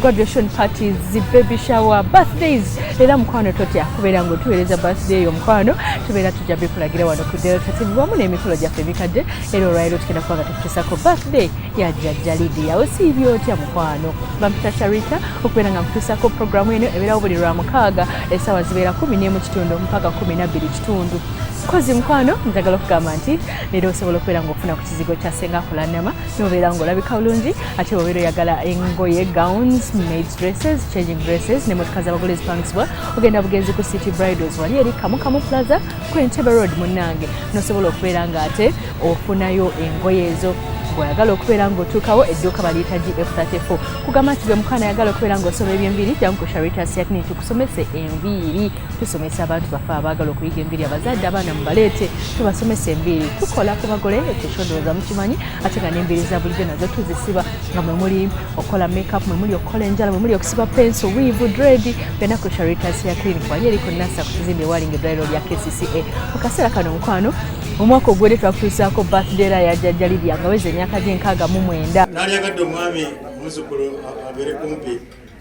graduation parties baby shower birthdays era mukwano totya kubeera nga otuweereza birthday eyo mukwano tubeera tujja bikulagira wano ku delta tv wamu n'emikolo gyaffe emikadde era olwaliro tugenda kuba nga tukutusako birthday ya jajja lidia osiibye otya mukwano bampita sharita okubeera nga nkutusako programu eno ebeerawo buli lwa mukaaga esaawa zibeera kumi n'emu kitundu mpaka kumi nabbiri kitundu kozi mukwano njagala okugamba nti leero osobola okubeera nga ofuna ku kizigo kya senga kulanama nobeera nga olabika bulungi ate wabeera oyagala engoye gowns maids dresses changing dresses ne motoka zabagole ezipangisibwa ogenda bugenzi ku city bridals wali eri kamukamu plaza ku entebe road munange nosobola okubeera nga ate ofunayo engoye ezo bw'oyagala okubeera ng'otuukawo edduuka baliyita gf34 kugamba nti gwe mukaana ayagala okubeera ng'osoma eby'enviiri jangu ku sharitas yakini tukusomese enviiri tusomesa abantu baffe abaagala okuyiga enviiri abazadde abaana mubaleete tubasomesa enviiri tukola ku bagole ekyekyodowoza mukimanyi ate nga n'enviiri za bulijjo nazo tuzisiba nga mwe muli okukola makeup mwe muli okukola enjala mwe muli okusiba penso wiivu dredi byonna ku charitas ya clinic wali eri ku nasa ku kizimbe ewalinga eddwaliro lya kcca mu kaseera kano omukwano omwaka ogwedde twakutuusaako birthday la ya jajja lidia nga weza emyaka gyenkaaga mu mwenda nalyagadde omwami omuzukulu abeere kumpi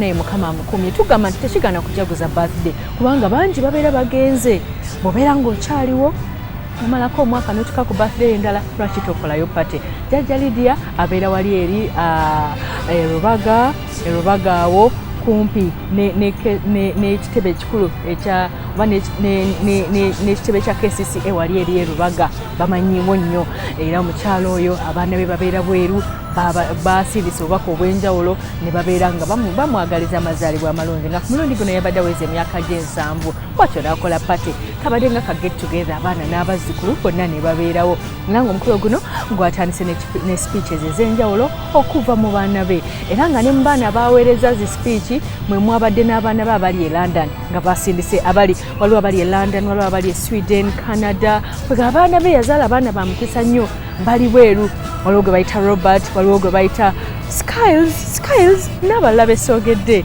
naye mukama amukumye tugamba nti tekigana kujaguza birthday kubanga bangi babeera bagenze bobeera ngaokyaliwo omalako omwaka notuka ku birthday endala lwaki tokolayo pate jajja lidia abeera wali eri ah, eh, rubaga e Rubaga awo kumpi n'ekitebe ekikulu ekya oba n'ekitebe kya kcca wali eri e Rubaga bamanyiwo nnyo era omukyalo oyo abaana be babeera bweru basiibisa obubaka obw'enjawulo ne babeera nga bamwagaliza amazaalibwa amalungi nga ku mulundi guno yabadde aweza emyaka gy'ensanvu bwatyo n'akola pate kabadde nga ka get together abaana n'abazzukulu bonna ne babeerawo era ng'omukolo guno gwatandise ne speeches ez'enjawulo okuva mu baana be era nga ne mu baana baaweereza zi speech mwe mwabadde n'abaana be abali e london nga basindise abali waliwo abali e london waliwo abali e sweden canada kwega abaana be yazaala abaana ba mukisa nnyo bali bweru waliwo gwe bayita robert waliwo gwe bayita skiles skiles n'abalala besoogedde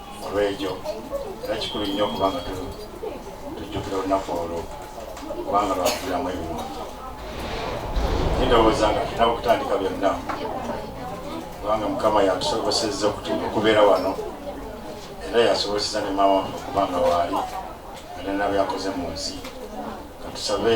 olw'ekyo era kikulu nnyo okuba nga tujjukira olunaku olwo kubanga lwakugiramu ebirungi kindowooza nga tulina okutandika byonna kubanga mukama yatusobosezza okubeera wano era yasoboseza ne maama okuba nga waali alina byakoze mu nsi katusabe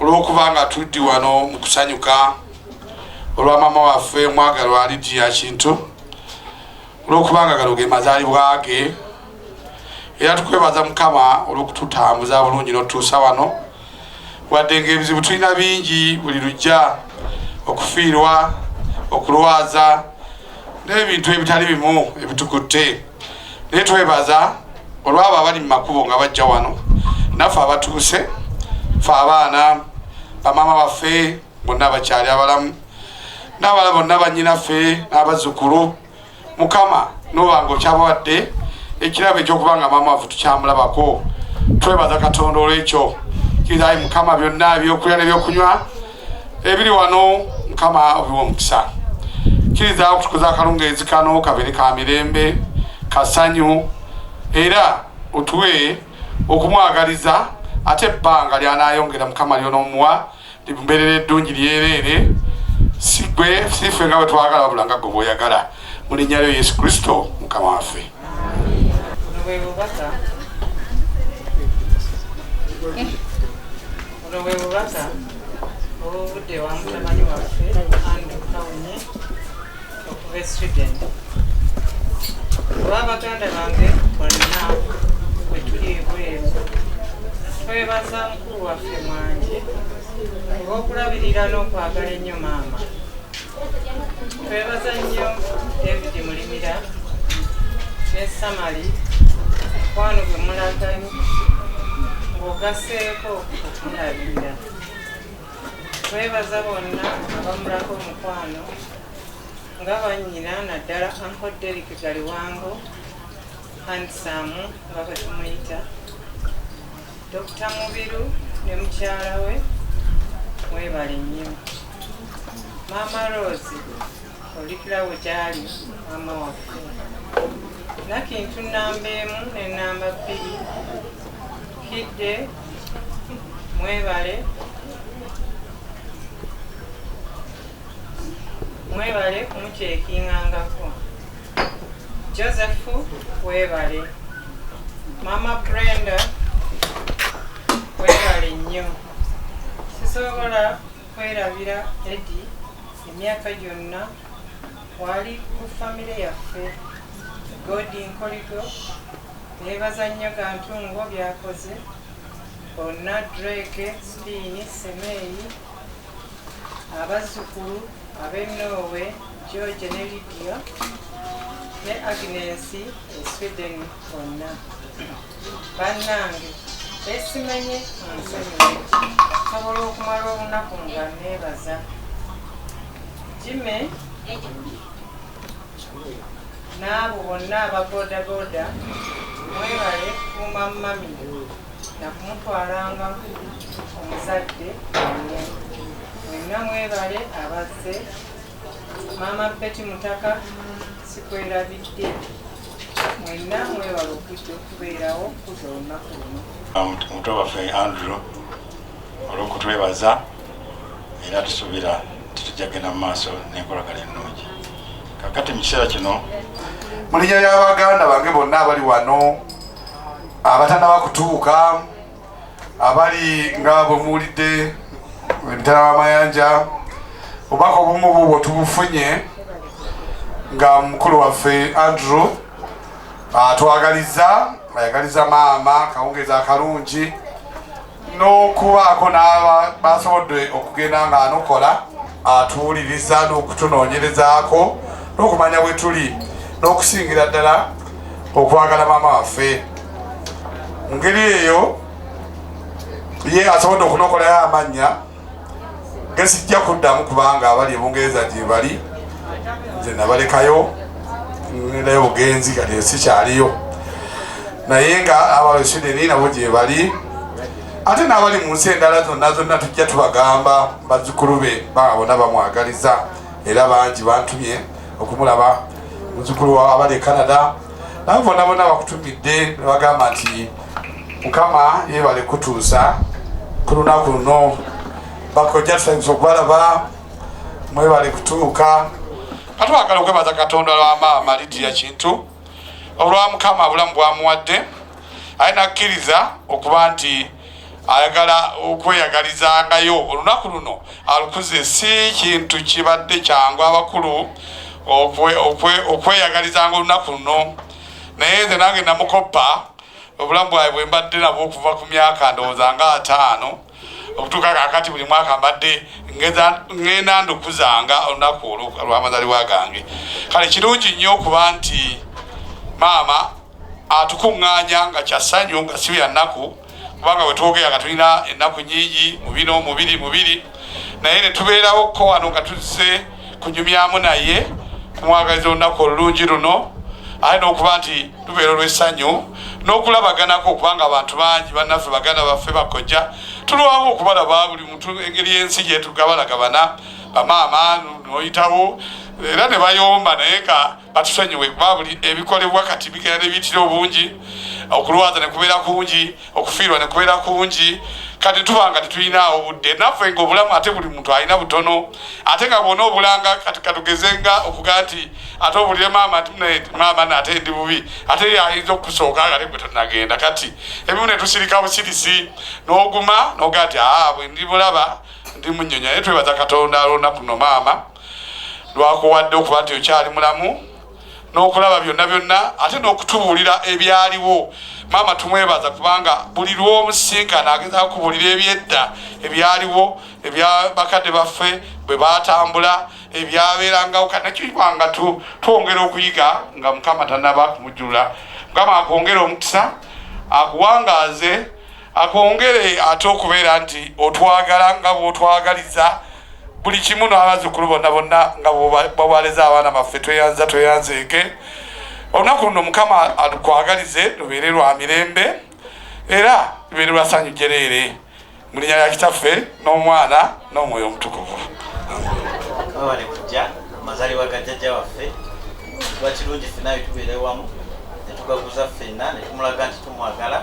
olw'okuba nga tuddi wano mu kusanyuka olwa maama waffe omwagalwa lidiya kintu olw'okuba nga gano ge mazaalibwa ge era tukwebaza mukama olw'okututambuza bulungi n'otutuusa wano wadde ng'ebizibu tulina bingi buli lujja okufiirwa okulwaza n'ebintu ebitali bimu ebitukutte naye twebaza olwabo abali mu makubo nga bajja wano naffe abatuuse fe abaana bamaama baffe bonna abakyali abalamu n'abala bonna banyinaffe n'abazzukulu mukama noba nga okyabawadde ekirabo ekyokuba nga maama waffe tukyamulabako twebaza katonda olwekyo kirizayi mukama byonna ebyokulya nebyokunywa ebiri wano mukama obiwa omukisa kiriza okutukuza akalungaezi kano kabere ka mirembe kasanyu era otuwe okumwagaliza ate ebbanga lyanayongera mukama lyonomuwa limbeerera eddungi lyereere sigwe sife nga bwetwagala wabula nga gwe bwoyagala mulinnya lyo yesu kristo mukama waffe Thank you. Buno bwe bubaka obuvudde wa mutabani waffe Andrew Kawunye okuva e Sweden. Oba baganda bange bonna bwe tuli ebweru twebaza mukulu waffe mwanje olw'okulabirira n'okwagala ennyo maama Twebaza nnyo David Mulimira ne Samali mukwano gwe mulaga ng'ogaseeko okumulabirira. Twebaza bonna abamulako omukwano nga bannyina naddala Uncle Derrick Galiwango handsome nga bwe tumuyita Dokita Mubiru ne mukyala we webale nnyo maama Rose olikirawo gyali maama waffe nakintu namba emu ne namba bbiri kidde mwebale Mwebale kumukyekingangako. Joseph webale. Mama Brenda webale nnyo. Sisobola kwerabira Eddie emyaka gyonna wali ku famire yaffe godi nkoligo nebaza nnyo gantungo byakoze bonna dreke spiini semeeyi Abazzukulu ab'e Norway, George ne Lydia ne Agnes e Sweden bonna. Bannange beesimenye munsonyiwe nsobola okumala olunaku nga neebaza. Jimmy N'abo bonna aba bodaboda mwebale kukuuma mummy na kumutwalanga ku omuzadde wammwe. Mwenna mwebale abazze. Maama Betty Mutaka sikwerabidde. Mwenna mwebale okujja okubeerawo okukuza olunaku luno. Omuto waffe Andrew olw'okutwebaza era tusuubira nti tujja kugenda mu maaso n'enkolagana ennungi. kakati mu kiseera kino mu linnya lya baganda bange bonna abali wano abatanaba kutuuka abali nga bwe muwulidde emitala w'amayanja obubaka obumu bubwo tubufunye nga mukulu waffe andrew atwagaliza ayagaliza maama akawungeezi akalungi n'okubaako n'aba basobodde okugenda nga anokola atuwuliriza n'okutunoonyerezaako n'okumanya bwe tuli n'okusingira ddala okwagala maama waffe mu ngeri eyo ye asobodde okunokolayo amannya gesijja kuddamu kubanga abali ebungereza gyebali nze nabalekayo ngendayo bugenzi kati esikyaliyo naye nga abali sweden nabo gyebali ate n'abali mu nsi endala zonna zonna tujja tubagamba bazzukulu be baa bona bamwagaliza era bangi bantumye okumulaba muzzukulu wa abali e canada nabo bona bona bakutumidde nebagamba nti mukama yebale kutuusa ku lunaku luno bakojja tusainza okubalaba mwebale kutuuka atwagala okwebaza katonda lwa maama lidiya kintu olwa mukama bulamu bwamuwadde aye nakkiriza okuba nti ayagala okweyagalizangayo olunaku luno alukuze si kintu kibadde kyangu abakulu okweyagalizanga olunaku luno naye nze nange namukoppa obulamu bwawe bwe mbadde nabwo okuva ku myaka ndowooza nga ataano okutuuka kakati buli mwaka mbadde ngenda ndukuzanga olunaku olwamazalibwa gange kale kirungi nnyo okuba nti maama atukuŋŋaanya nga kyasanyu nga si bya nnaku kubanga bwe twogera nga tulina ennaku nyingi mu bino mubiri mubiri naye ne tubeerawo ko wano nga tuzze kunyumyamu naye kumwagaliza olunaku olulungi luno aye n'okuba nti lubeera olw'essanyu n'okulabaganako okubanga abantu bangi bannaffe baganda baffe bakojja tulwawo okubalaba buli muntu engeri y'ensi gyetugabalagabana bamaama noyitawo era ne bayomba naye nga batusonyiwe kuba buli ebikolebwa kati bigenda nebiyitira obungi okulwaza nekubeera kungi okufiirwa nekubeera kungi kati tuba nga tetulinaawo budde naffe nga obulamu ate buli muntu alina butono ate nga bwona obulanga kati katugeze nga okuga nti ate obulire maama ti maama naate ndi bubi ate yayinza okusooka ngate gwe tonagenda kati ebimu netusirika busirisi noguma noga nti aa bwe ndi bulaba ndi munyonya naye twebaza katonda alonda kuno maama lwakuwadde okuba nti okyali mulamu n'okulaba byonna byonna ate n'okutubuulira ebyaliwo maama tumwebaza kubanga buli lwomusinkana ageza kubuulira ebyedda ebyaliwo ebya bakadde baffe bwe batambula ebyabeerangawo kanakiibanga twongera okuyiga nga mukama tanaba kumujjula mukama akwongere omukisa akuwangaaze akwongere ate okubeera nti otwagala nga bwotwagaliza buli kimu n'abazzukulu bonna bonna nga bwewaleza abaana baffe tweyanza tweyanzeeke olunaku luno mukama alukwagalize lubeere lwa mirembe era lubeere lwa sanyu jereere mu linya lya kitaffe n'omwana n'omwoyo omutukuvu mazalibwa ga jjajja waffe lwakirungi ffe naye tubeere wamu netugaguza ffenna netumulaga nti tumwagala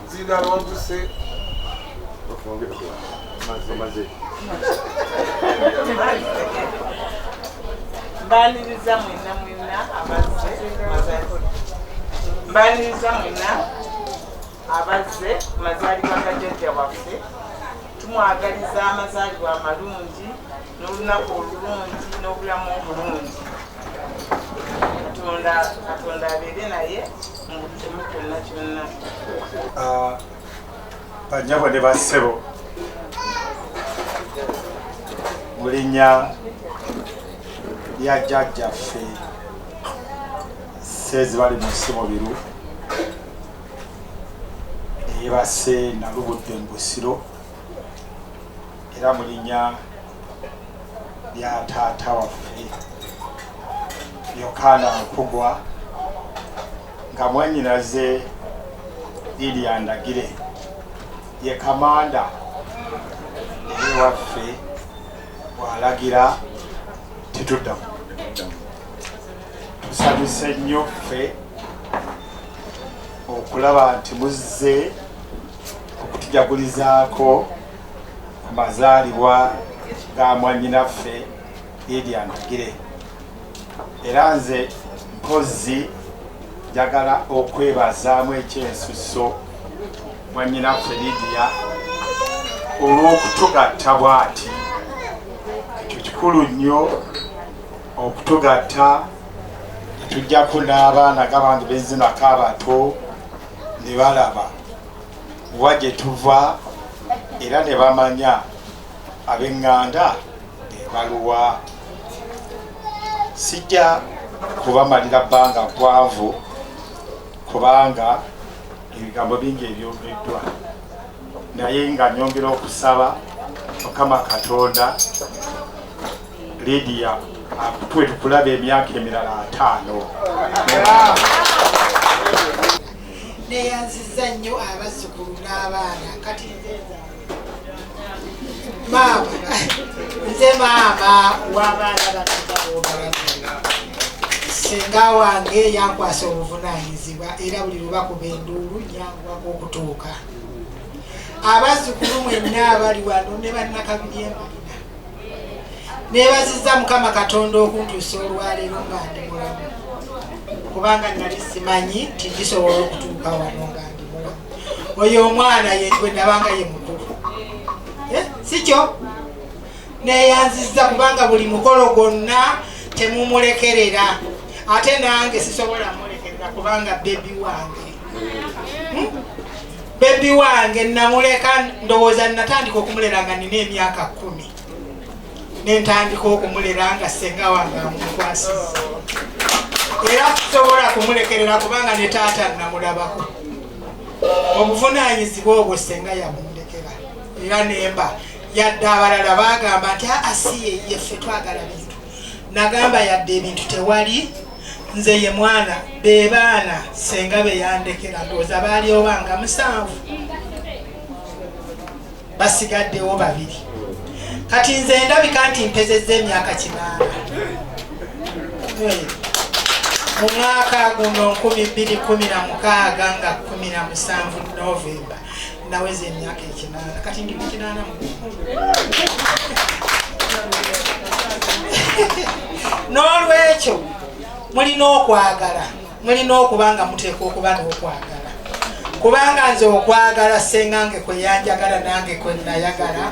mbaniriza mwena mwena abazze mbaniriza mwena abazze mazaalibwa ga jajja waffe tumwagaliza amazaalibwa amalungi n'olunaku olulungi n'obulamu obulungi katonda katonda abeere naye Ah, banyabo ne bassebo mu linnya lya jjajjaffe seezi bali mu nsi mubiru eyebase nalubudde mu busiro era mu linnya lya taata waffe yokaana nkugwa nga mwanyinaze lilia ndagire ye kamanda naye waffe bwalagira tetuddamu tusanyuse nnyo ffe okulaba nti muzze okutujagulizaako amazaalibwa ga mwanyinaffe Lydia Ndagire era nze mpozzi njagala okwebazaamu ekyensusso mwanyinaffe Lydia olw'okutugatta bw'ati ekyo kikulu nnyo okutugatta tujjako n'abaana gabange bezinako abato ne balaba wa gye tuva era ne bamanya ab'eŋŋanda ebaluwa sijja kubamalira bbanga ggwanvu kubanga ebigambo bingi ebyogeddwa naye nga nyongera okusaba mukama katonda lidiya akutuwe tukulaba emyaka emirala ataano neyanziza nnyo abazzukulu n'abaana kati maama nze maama w'abaana baa senga wange yankwasa obuvunanyizibwa era buli lwebakuba enduulu yangwako okutuuka abazzukulu mwenna abali wano ne bannakabiri embalina neebazizza mukama katonda okuntuusa olwaleero nga ndi mulamu kubanga nali simanyi nti gisobola okutuuka wano nga ndi mulamu oyo omwana yegwe nabanga ye mukulu eh, sikyo neeyanzizza kubanga buli mukolo gwonna temumulekerera ate nange sisobola mulekerera kubanga bebi wange hmm? bebi wange namuleka ndowooza natandika okumulera nga nina emyaka kumi nentandika okumulera nga senga wange amukwasiza era tusobola kumulekerera kubanga ne taata namulabako obuvunanyizibwa obwo senga yamundekera era nemba yadde abalala bagamba nti aasiye ah, ah, yeffe twagala bintu nagamba yadde ebintu tewali nze ye mwana be baana senga be yandekera ndowooza baali oba nga musanvu basigaddewo babiri kati nze ndabika nti mpezezza emyaka kinaana mu mwaka guno nkumi bbiri kumi na mukaaga nga kumi na musanvu novemba Naweza emyaka ekinaana kati ndi mukinaana mu n'olwekyo mulina okwagala mulina okuba nga muteekwa okuba n'okwagala kubanga nze okwagala sengange kwe yanjagala nange kwe nayagala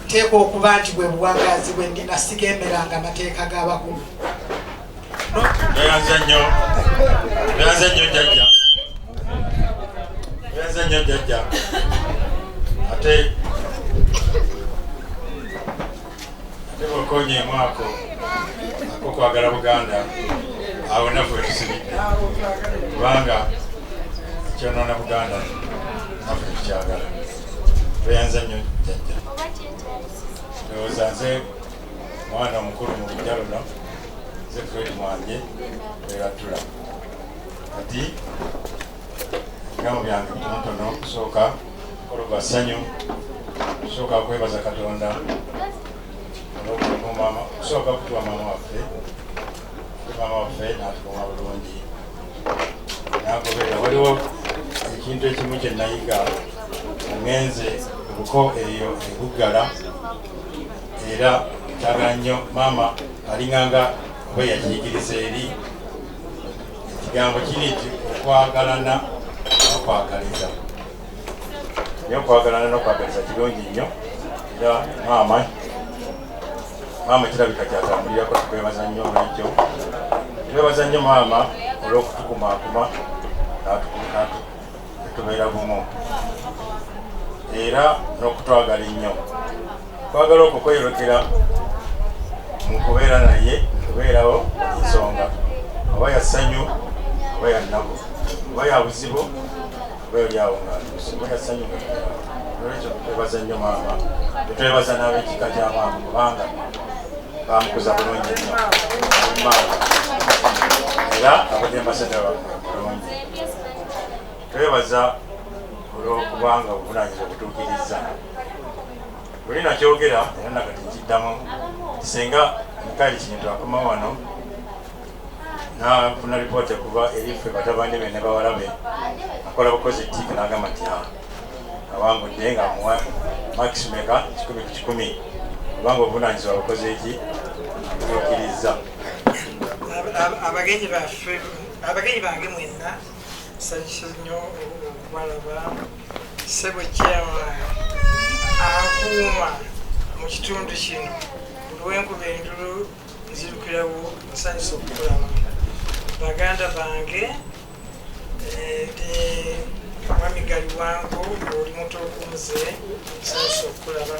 nteekwa okuba nti bwe buwangazi bwe ndina sigemeranga amateeka g'abakulu Tweyanze nnyo. Tweyanze nnyo jajja. Tweyanze nnyo jajja. Ate ate bokonye mwako ako kwagala Buganda awo nafu etusibidde kubanga kyonoona Buganda nafu etukyagala. Tweyanze nnyo jajja. Ndowooza nze mwana mukulu mu lujja luno nze fred mwanye eratula kati ebigambo byange bitonotono kusooka kologwa ssanyu kusooka kwebaza katonda kusooka kutuwa maama waffe maama waffe natukuuma bulungi nagoberera waliwo ekintu ekimu kye nayiga ngenze obuko eyo ebuggala era kyagala nnyo maama alinganga oba yakiyigiriza eri ekigambo kiri nti okwagalana nokwagaliza naye okwagalana nokwagaliza kirungi nnyo era maama maama kirabika kyatambulirako tukwebaza nnyo olwekyo twebaza nnyo maama olwokutukumakuma natukuatu tubeera bumu era n'okutwagala ennyo twagala okwo kweyolekera mu kubeera naye kubeerawo ensonga oba ya ssanyu oba ya nnaku oba ya buzibu oba eryawo nga oba ya ssanyu nga olwekyo twebaza nnyo maama etwebaza n'abekika kya maama kubanga bamukuza bulungi nnyo era abadde ambasadda wa twebaza olw'okuba nga obuvunanyizibwa butuukirizza buli nakyogera era nakati nkiddamu singa mikaali kintu akoma wano nafuna lipooti okuva eri ffe batabani be ne bawala be akola bukozi tiiki n'agamba nti ah, awangudde nga amuwa makisi meka kikumi ku kikumi kubanga obuvunanyizibwa bukoze eki butuukirizza abagenyi baffe abagenyi bange mwenna nsanyusa nnyo okubalaba sebo kyama akuuma mu kitundu kino olwenkuba endulu nzirukirawo nsanyusa okukulaba baganda bange eh, eh, mwami galiwango oli mutuukunze nsanyusa okukulaba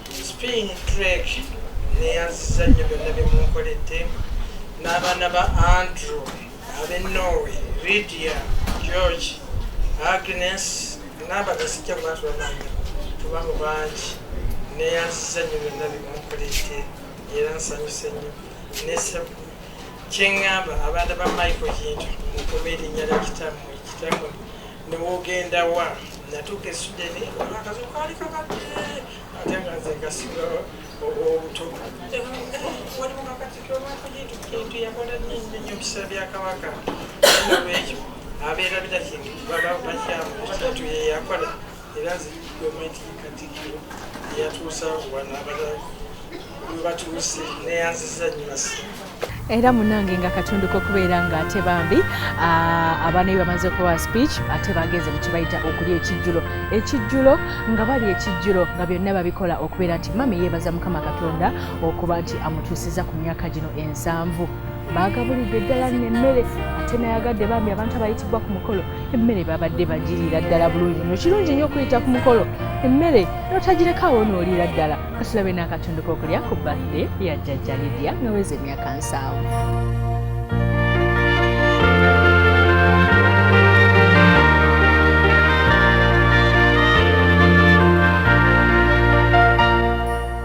Spring Drake neyanziza nnyo byonna bye munkoledde n'abaana ba Andrew ab'e Norway, Lydia, George, Agnes n'abadde sijja kuba tubamanya tuba mu bangi neyanziza nnyo byonna bye munkoledde era nsanyuse nnyo ne kyeŋŋamba abaana ba Michael Kintu mukume erinnya lya kitammwe kitammwe newogenda wa natuuka esudeni akazi kaali kakadde ate nga nze ngasiga obuto waliwo kakatiko lwakujitukenti yakola nyinyi nyo bisa bya kabaka nolwekyo abeera bitakintu baba bakyamu batatu yeyakola era nze gavumenti katikkiro eyatuusawo wano abala webatuuse neyanziza nyinasi era munange nga katundu kokubeera nga ate bambi abaana be bamaze okuwa speech ate bagenze mu kibayita okulya ekijjulo ekijjulo nga bali ekijjulo nga byonna babikola okubeera nti mami yeebaza mukama katonda okuba nti amutuusiza ku myaka gino ensanvu baagabulidde ddala nno emmere ate nayagadde bambi abantu abayitibwa ku mukolo emmere babadde bagiriira ddala bulungi nyo kirungi nnyo okuyita ku mukolo emmere notagirekawo nooliira ddala kasilabe n'akatundu k'okulya ku birthday ya jjajja lidia nga weza emyaka nsaawo